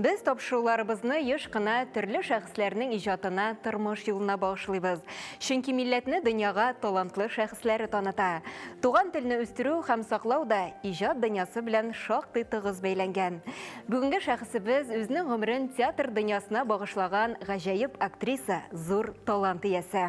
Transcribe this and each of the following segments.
Без тапшыруларыбызны еш кына төрле шәхесләрнең иҗатына, тормыш юлына багышлыйбыз. Чөнки милләтне дөньяга талантлы шәхесләре таныта. Туган телне үстерү һәм саклау да иҗат дөньясы белән шактый тыгыз бәйләнгән. Бүгенге шәхесебез үзенең гомерен театр дөньясына багышлаган гаҗәеп актриса, зур талант иясе.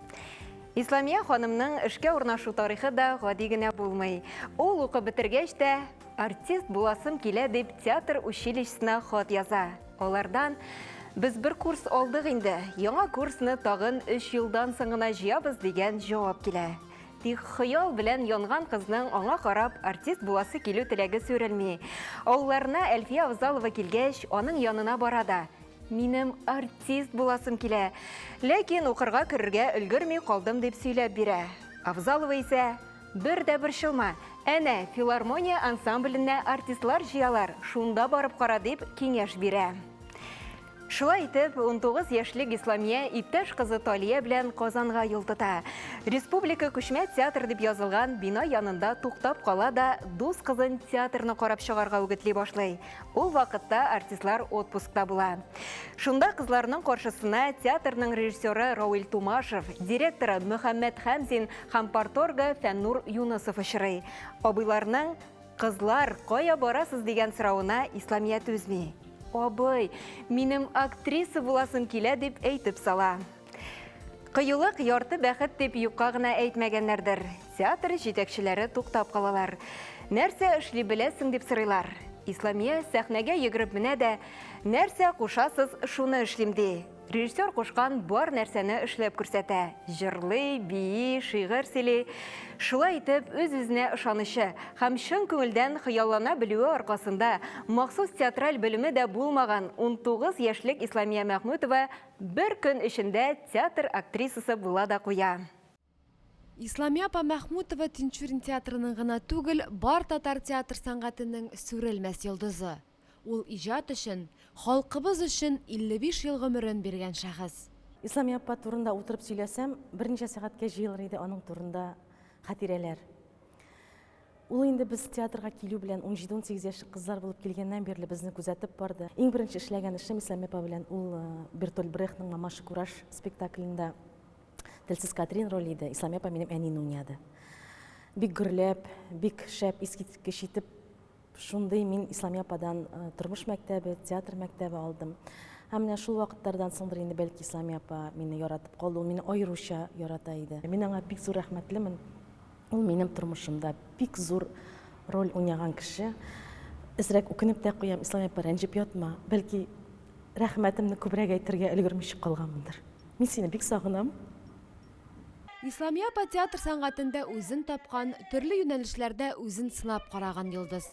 Исламия ханымның эшкә урнашу тарихы да гади генә булмый. Ул укып бетергәч тә артист буласым килә дип театр училищесына хат яза. Алардан Без бер курс алдык инде, яңа курсны тагын 3 елдан соң гына җыябыз дигән җавап килә. Тик хыял белән янган кызның аңа карап артист буласы килү теләге сүрелми. Авылларына Әлфия Авзалова килгәч, аның янына бара да. Минем артист буласым килә. Ләкин укырга керергә өлгерми калдым дип сөйләп бирә. Авзалова исә бер дә борчылма. Әнә, филармония ансамбленә артистлар җыялар, шунда барып кара дип киңәш бирә. Шулай итеп, 19 яшьлек Исламия иптәш кызы Талия белән Казанга юл тота. Республика күчмә театр дип язылган бина янында туктап кала да дус кызын театрны карап чыгарга үгетли башлый. Ул вакытта артистлар отпускта була. Шунда кызларның каршысына театрның режиссеры Рауил Тумашев, директоры Мөхәммәд Хәмзин һәм парторгы Фәннур Юнысов очрый. Абыйларның «Кызлар, кая барасыз?» дигән соравына Исламия түзми. Абый, минем актриса буласым килә, дип әйтеп сала. Кыюлык ярты бәхет дип юкка гына әйтмәгәннәрдер. Театр җитәкчеләре туктап калалар. Нәрсә эшли беләсең дип сорыйлар. Исламия сәхнәгә йөгереп менә дә, нәрсә кушасыз, шуны эшлим ди. Режиссер кушкан бар нәрсәне эшләп күрсәтә. Җырлый, бии, шигырь сөйли. Шулай итеп, үз-үзенә ышанычы һәм чын күңелдән хыяллана белүе аркасында махсус театраль белеме дә булмаган 19 яшьлек Исламия Мәхмүтова Бер көн эчендә театр актрисасы була да куя. Исламия апа Мәхмүтова Тинчурин театрының гына түгел, бар татар театр сәнгатенең сүрелмәс йолдызы. Ул иҗат өчен, халкыбыз өчен 55 ел гомерен биргән шәхес. Исламия апа турында утырып сөйләсәм, берничә сәгатькә җыелыр иде аның турында хәтирәләр. Ул инде без театрга килү белән унҗиде-унсигез яшьлек кызлар булып килгәннән бирле безне күзәтеп барды. Иң беренче эшләгән эшем Исләми апа белән ул э, Бертольд Брехтның Мамаша кураж спектаклендә Телсез Катрин роле иде. Исләми апа минем әнине уйнады. Бик гөрләп, бик шәп, искиткеч итеп Шундый мин Исламия ападан э, тормыш мәктәбе, театр мәктәбе алдым. Һәм менә шул вакытлардан соңдыр инде бәлки Исламия апа мине яратып калды, ул мине аеруча ярата иде. Мин аңа бик зур рәхмәтлемен. Ул минем тормышымда бик зур роль уйнаган кеше. Эзрәк үкенеп тә куям, Исламия апа, рәнҗеп ятма. Бәлки рәхмәтемне күбрәк әйтергә өлгермичә калганмындыр. Мин сине бик сагынам. Исламия апа театр сәнгатендә үзен тапкан, төрле юнәлешләрдә үзен сынап караган йолдыз.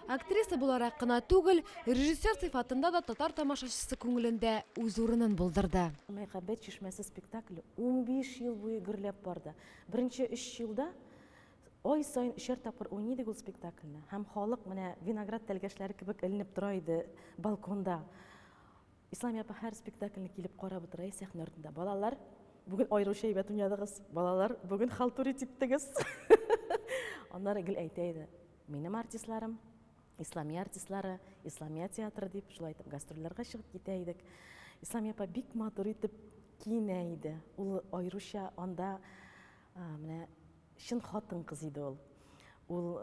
Актриса буларак кына түгел, режиссер сыйфатында да татар тамашачысы күңелендә үз урынын булдырды. Мәхәббәт чишмәсе спектакле унбиш ел буе гөрләп барды. Беренче өч елда ай саен өчәр тапкыр уйный идек ул спектакльне. Һәм халык менә виноград тәлгәшләре кебек эленеп тора иде балконда. Ислами апа һәр спектакльне килеп карап утыра сәхнә артында. Балалар, бүген аеруча әйбәт уйнадыгыз. Балалар, бүген халтури типтегез. Аннары гел әйтә иде. Минем артистларым, Исламия артистлары, Исламия театры дип, шулай итеп гастрольләргә чыгып китә идек. Исламия апа бик матур итеп киенә иде. Ул аеруча анда менә Чын хатын-кыз иде ул. Ул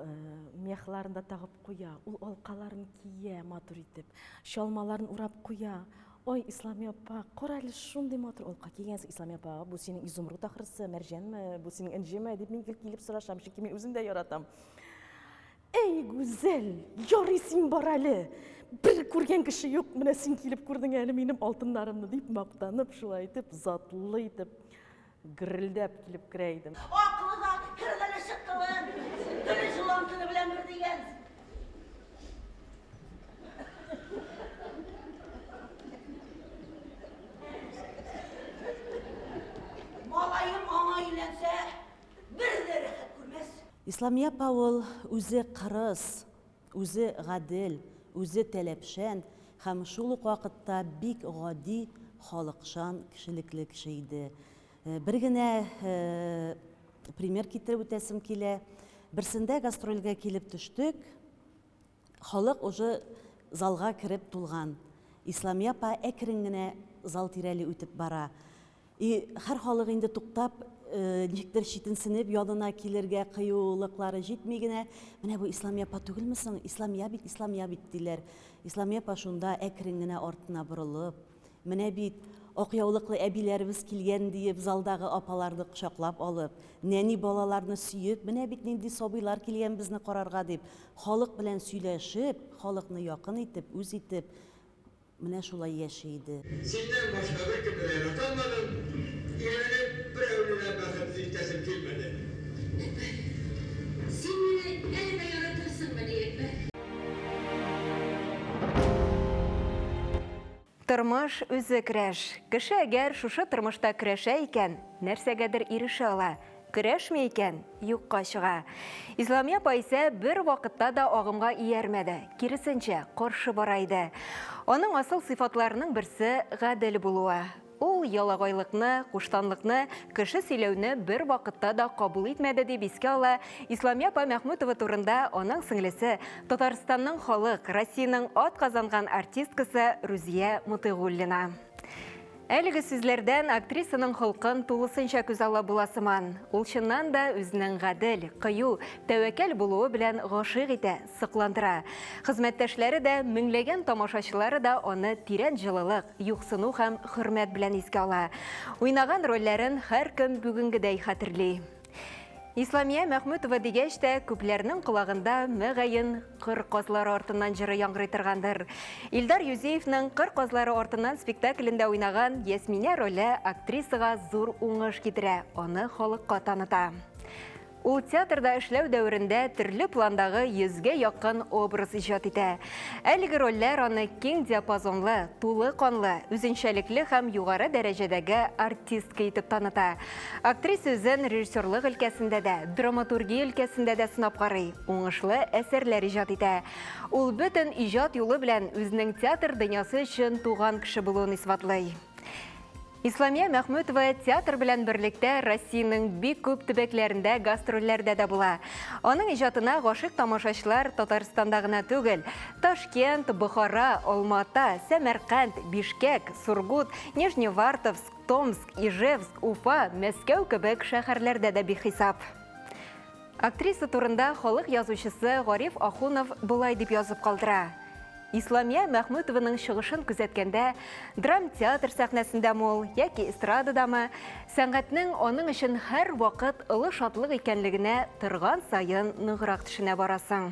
мехларын да тагып куя, ул алкаларын кия матур итеп, чалмаларын урап куя. Ой, Ислами апа, кара әле, шундый матур алка кигәнсең, Ислами апа, бу синең изумруд ахрысы, мәрҗәнме, бу синең энҗеме, дип мин гел килеп сорашам, чөнки мин үзем дә яратам. Әй, Гүзәл, ярый син бар әле, бер күргән кеше юк, менә син килеп күрдең әле минем алтыннарымны, дип мактанып, шулай итеп, затлы итеп Гррелдәп килеп керә идем. Аклы да, керлеле чыктылы, теле җылан теле белән бер дигән. Малаем аңа өйләнсә, бер дә рәхәт күрмәс. Исламия апа ул үзе кырыс, Үзе гадел, үзе таләпчән һәм шул ук вакытта бик гади, халыкчан, кешелекле кеше иде. Бер генә пример китереп үтәсем килә. Берсендә гастрольгә килеп төштек. Халык уже залга кереп тулган. Исламия апа әкрен генә зал тирәли үтеп бара. И хәр халык инде туктап, ничектер читенсенеп, янына килергә кыюлыклары җитми генә, Менә бу Исламия апа түгелме соң? Исламия бит, Исламия бит, диләр. Исламия апа шунда әкрен генә артына борылып, Менә бит, ак яулыклы әбиләребез килгән, диеп, залдагы апаларны кочаклап алып, нәни балаларны сөеп, Менә бит нинди сабыйлар килгән безне карарга, дип, халык белән сөйләшеп, халыкны якын итеп, үз итеп, Менә шулай яши иде. Синнән башка беркем дә ярата алмадым, өйләнеп, берәүне дә бәхетле итәсем килмәде. Әкбәр. Син мине әле дә яратасыңмыни, Әкбәр? Тормыш, үзе көрәш. Кеше әгәр шушы тормышта көрәшә икән, нәрсәгәдер ирешә ала. Көрәшми икән, юкка чыга. Исламия апа исә бер вакытта да агымга иярмәде, киресенчә, каршы бара иде. Аның асыл сыйфатларының берсе, гадел булуы. Ул ялагайлыкны, куштанлыкны, кеше сөйләүне бер вакытта да кабул итмәде, дип искә ала Исламия апа Мәхмүтова турында аның сеңлесе, Татарстанның халык, Россиянең атказанган артисткасы Рузия Мотыйгуллина. Әлеге сүзләрдән актрисаның холкын тулысынча күзаллап була сыман. Ул чыннан да үзенең гадел, кыю, тәвәккәл булуы белән гашыйк итә, сокландыра. Хезмәттәшләре дә, меңләгән тамашачылары да аны тирән җылылык, юксыну һәм хөрмәт белән искә ала. Уйнаган рольләрен һәркем бүгенгедәй хәтерли. Исламия Мәхмүтова дигәч тә, күпләрнең колагында мәгәен кыр казлары артыннан җыры яңгырый торгандыр. Илдар Юзеевның Кыр казлары артыннан спектаклендә уйнаган Ясминә роле актрисага зур уңыш китерә, аны халыкка таныта. Ул театрда эшләү дәверендә төрле пландагы йөзгә якын образ иҗат итә. Әлеге рольләр аны киң диапазонлы, тулы канлы, үзенчәлекле һәм югары дәрәҗәдәге артистка итеп таныта. Актриса үзен режиссерлык өлкәсендә дә, драматургия өлкәсендә дә сынап карый, уңышлы әсәрләр иҗат итә. Ул бөтен иҗат юлы белән үзенең театр дөньясы өчен туган кеше булуын исбатлый. Исламия Мәхмүтова театр белән берлектә Россиянең бик күп төбәкләрендә гастрольләрдә дә була. Аның иҗатына гашыйк тамашачылар Татарстанда гына түгел, Ташкент, Бохара, Алма-Ата, Сәмәрканд, Бишкәк, Сургут, Нижневартовск, Томск, Ижевск, Уфа, Мәскәү кебек шәһәрләрдә дә бихисап. Актриса турында халык язучысы Гариф Ахунов болай дип язып калдыра. Исламия Мәхмүтованың чыгышын күзәткәндә, драмтеатр сәхнәсендә мул яки эстрададамы, сәнгатьнең аның өчен һәр вакыт олы шатлык икәнлегенә торган саен ныграк төшенә барасың.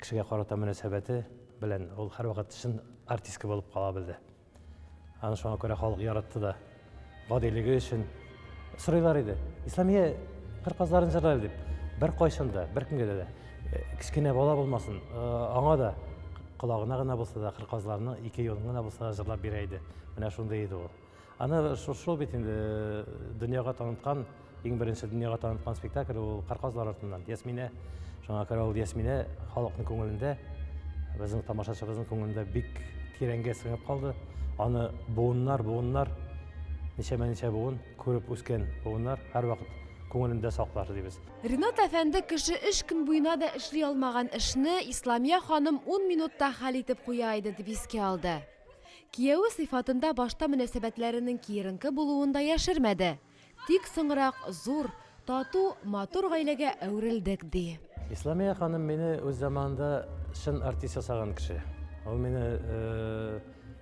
Кешегә карата мөнәсәбәте белән ул һәрвакыт чын артистка булып кала белде. Аны шуңа күрә халык яратты да. Гадилеге өчен сорыйлар иде. Исламия кыр казларын җырлар дип. Бер кайчан да, бер кемгә дә э, кечкенә бала булмасын, э, аңа да колагына гына булса да, кыр казларны ике юлын гына булса да җырлап бирә иде. Менә шундый иде ул. Аны шул бит инде э, дөньяга таныткан, иң беренче дөньяга таныткан спектакль ул Карказлар артыннан. Ясминә, шуңа күрә ул Ясминә халыкның күңелендә, безнең тамашачыбызның күңелендә бик тирәнгә сеңеп калды. Аны буыннар, буыннар, ничәмә ничә буын күреп үскән буыннар һәрвакыт күңелендә саклар дибез. Ренат әфәнде кеше өч көн буена да эшли алмаган эшне Исламия ханым ун минутта хәл итеп куя иде дип искә алды. Кияве сыйфатында башта мөнәсәбәтләренең киеренке булуын да яшермәде. Тик соңрак зур, тату, матур гаиләгә әверелдек, ди. Исламия ханым мине үз заманында чын артист ясаган кеше. Ул мине,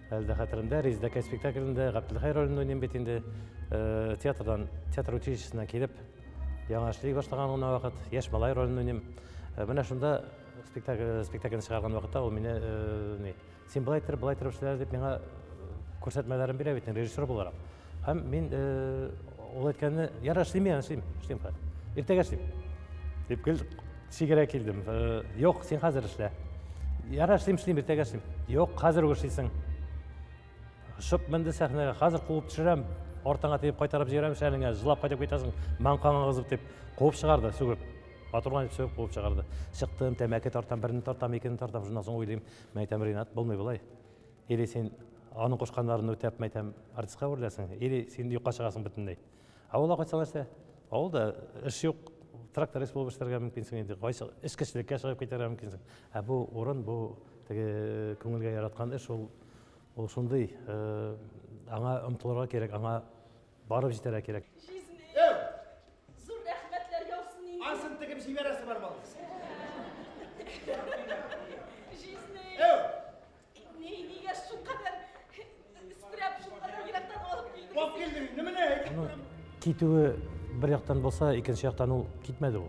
әле дә хәтеремдә, Резедәкәй спектаклендә Гаптелхәй ролен уйныйм бит инде, театрдан, театр училищесына килеп, яңа эшли башлаган гына вакыт, яшь малай ролен уйныйм. Менә шунда спектакль, спектакльне чыгарган вакытта ул мине, ни. Син былай итер, былай итер эшләр дип миңа күрсәтмәләрен бирә бит режиссер буларак. Һәм мин ул әйткәнне, яра эшлим мин, эшлим, эшлим хәзер. Иртәгә эшлим. Дип кел сигерә килдем. Юк, син хәзер эшлә. Яра эшлим, эшлим, иртәгә эшлим. Юк, хәзер үк эшлисең. Шып менде сәхнәгә, хәзер куып төшерәм, артыңа тиеп кайтарып җибәрәм шәлеңә, җылап кайтып китәсең, маңкаңа кызып дип куып чыгарды, сүгеп. Матурланып сөеп куып чыгарды. Чыктым, тәмәке тартам, берне тартам, икене тартам, шуннан соң уйлыйм, Мәйтәм, Ринат, булмый болай. Или син аның кушканнарын үтәп, мәйтәм, артистка әвереләсең, или син юкка чыгасың бөтенләй. Авылда кайтсаң нәрсә? Авылда эш юк, тракторист булып эшләргә мөмкинсең инде, кайсы эчкечлеккә чыгып китәргә мөмкинсең. Ә бу урын, бу теге күңелгә яраткан эш, ул ул шундый, э, аңа омтылырга кирәк, аңа Барып җитәргә кирәк. Китүе бер яктан булса, икенче яктан ул китмәде ул.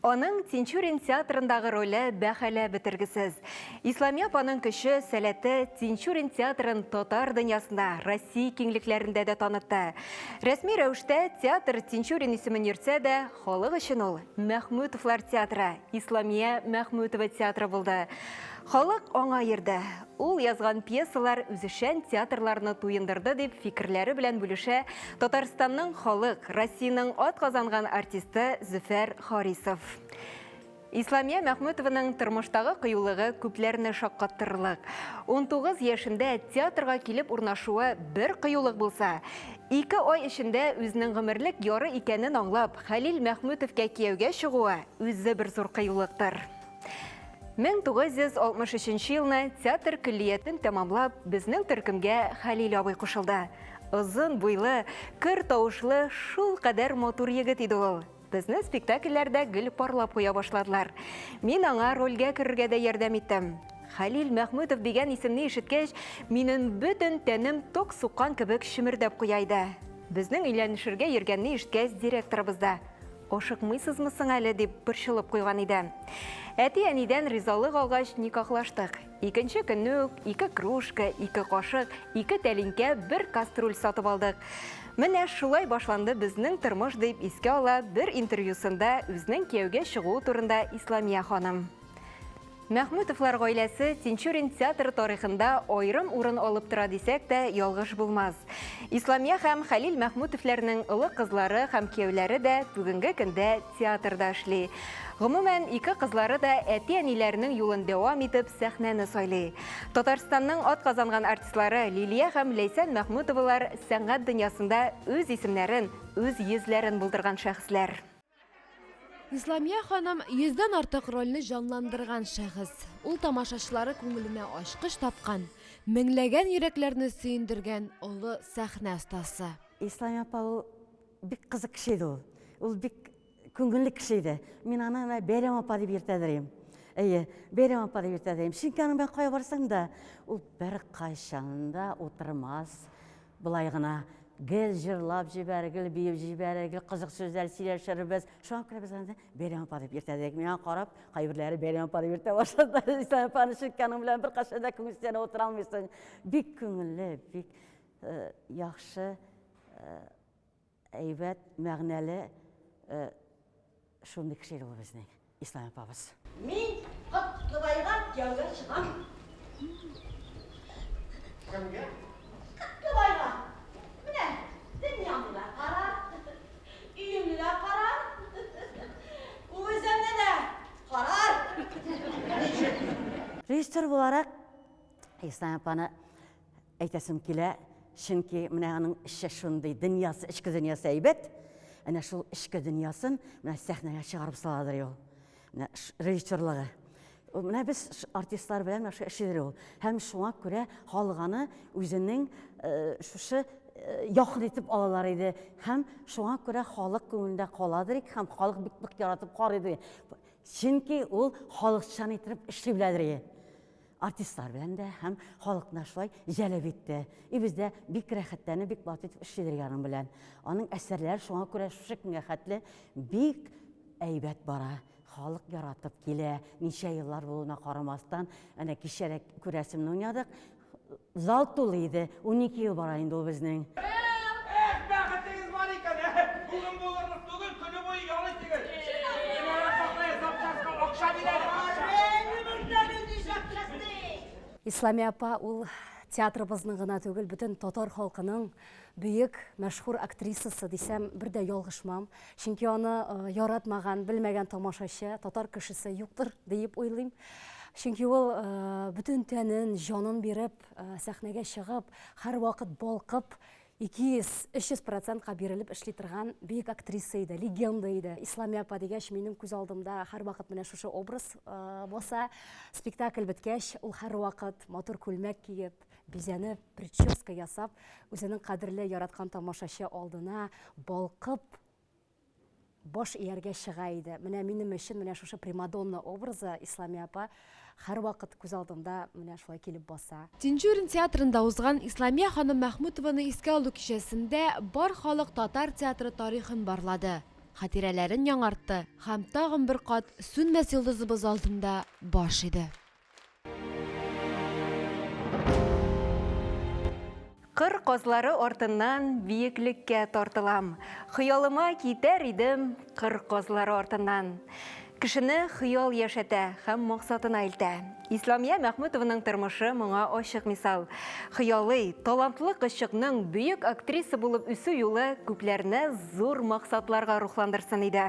Аның Тинчурин театрындагы роле бәһаләп бетергесез. Исламия апаның көче, сәләте Тинчурин театрын татар дөньясында, Россия киңлекләрендә дә танытты. Рәсми рәвештә театр Тинчурин исемен йөртсә дә, халык өчен ул Мәхмүтовлар театры, Исламия Мәхмүтова театры булды. Халык аңа йөрде. Ул язган пьесалар үзешчән театрларны туендырды, дип фикерләре белән бүлешә Татарстанның халык, Россиянең атказанган артисты Зөфәр Харисов. Исламия Мәхмүтованың тормыштагы кыюлыгы күпләрне шаккаттырырлык. 19 яшендә театрга килеп урнашуы бер кыюлык булса, ике ай эчендә үзенең гомерлек яры икәнен аңлап, Хәлил Мәхмүтовкә кияүгә чыгуы үзе бер зур кыюлыктыр. 1963 елны театр көллиятен тәмамлап, безнең төркемгә Хәлил абый кушылды. Озын буйлы, көр тавышлы, шул кадәр матур егет иде ул. Безне спектакльләрдә гел парлап куя башладылар. Мин аңа рольгә керергә дә ярдәм иттем. Хәлил Мәхмүтов дигән исемне ишеткәч, минем бөтен тәнем ток суккан кебек чемердәп куя иде. Безнең өйләнешергә йөргәнне ишеткәч, директорыбыз да, Ашыкмыйсызмы соң әле, дип борчылып куйган иде. Әти-әнидән ризалык алгач, никахлаштык. Икенче көнне үк ике кружка, ике кашык, ике тәлинкә, бер каструль сатып алдык. Менә шулай башланды безнең тормыш, дип искә ала бер интервьюсында үзенең кияүгә чыгуы турында Исламия ханым. Мәхмүтовлар гаиләсе Тинчурин театры тарихында аерым урын алып тора дисәк тә ялгыш булмас. Исламия һәм Хәлил Мәхмүтовләрнең олы кызлары һәм кияүләре дә бүгенге көндә театрда эшли. Гомумән, ике кызлары да әти-әниләренең юлын дәвам итеп сәхнәне сайлый. Татарстанның атказанган артистлары Лилия һәм Ләйсән Мәхмүтовалар сәнгать дөньясында үз исемнәрен, үз йөзләрен булдырган шәхесләр. Исламия ханым йөздән артык рольне җанландырган шәхес. Ул тамашачылары күңеленә ачкыч тапкан, меңләгән йөрәкләрне сөендергән олы сәхнә остасы. Исламия апа ул бик кызык кеше иде ул. Ул бик күңелле кеше иде. Мин аны менә Бәйрәм апа дип йөртәдерим. Әйе, Бәйрәм апа дип йөртәдерим. Чөнки аның белән кая барсаң да, ул беркайчан да утырмас, Болай гына гел җырлап җибәр, гел биеп җибәр, гел кызык сүзләр сөйләшербез. Шуңа күрә без аны Бәйрәм апа дип йөртәдек. Миңа карап, кайберләре Бәйрәм апа дип йөртә башладылар. Ислам апаны чүткәнең белән беркайчан да күңелсезләнеп утыра алмыйсың. Бик күңелле, бик э, яхшы э, Әйбәт, мәгънәле шундый кеше иде ул безнең Ислам апабыз. Мин Котлыбайга кияүгә чыгам. Кемгә? Котлыбайга. Менә дөньяңны да кара, өеңне дә кара, үзеңне дә карар. Ничек? Режиссер буларак Ислам апаны Әйтәсем килә, чөнки менә аның эче шундый, дөньясы, эчке дөньясы әйбәт. Әнә шул эчке дөньясын менә сәхнәгә чыгарып саладыр ул. Менә режиссерлыгы. Менә без артистлар белән менә шушы эшедер ул. Һәм шуңа күрә халык аны үзенең э, шушы э, якын итеп алалар иде. Һәм шуңа күрә халык күңелендә каладыр ик, һәм халык бик нык яратып карый иде. Чөнки ул халыкчан итеп эшли беләдер иде. Артистлар белән дә һәм халыкны шулай җәлеп итте. И бездә бик рәхәтләнеп, бик батып итеп эшлиләр яның белән. Аның әсәрләре шуңа күрә шушы көнгә хәтле бик әйбәт бара. Халык яратып килә. Ничә еллар булуына карамастан, әнә кичә дә күрәсемне уйнадык. Зал тулы иде, унике ел бара инде ул безнең. Эх, бәхетегез бар икән, әһе, бүген булырлык түгел, көне буе ял итегез. Динара Сафая запчастька акча бир әле, акча. Әни, монда нинди запчасть ди? Исламия апа, ул театрыбызның гына түгел, бөтен татар халкының бөек, мәшһүр актрисасы дисәм, бер дә ялгышмам. Чөнки аны яратмаган, белмәгән тамашачы, татар кешесе юктыр диеп уйлыйм. Чөнки ул бөтен тәнен, җанын биреп, сәхнәгә чыгып, һәрвакыт балкып, 200-300 процентка бирелеп эшли торган бөек актриса иде, легенда иде. Исламия апа дигәч, минем күз алдымда һәрвакыт менә шушы образ баса. Спектакль беткәч, ул һәрвакыт матур күлмәк киеп, Бизәнеп, прическа ясап, үзенең кадерле, яраткан тамашачы алдына балкып баш ияргә чыга иде. Менә минем өчен менә шушы примадонна образы Исламия апа һәрвакыт күз алдында менә шулай килеп баса. Тинчурин театрында узган Исламия ханым Мәхмүтованы искә алу кичәсендә бар халык татар театры тарихын барлады, хатирәләрен яңартты һәм тагын бер кат Сүнмәс йолдызыбыз алдында баш иде. Кыр козлары артыннан биеклеккә тартылам. Хыялыма китәр идем кыр козлары артыннан. Кешене хыял яшәтә һәм максатына илтә. Исламия Мәхмүтованың тормышы моңа ачык мисал. Хыялы, талантлы кызчыкның бөек актриса булып үсү юлы күпләрне зур максатларга рухландырсын иде.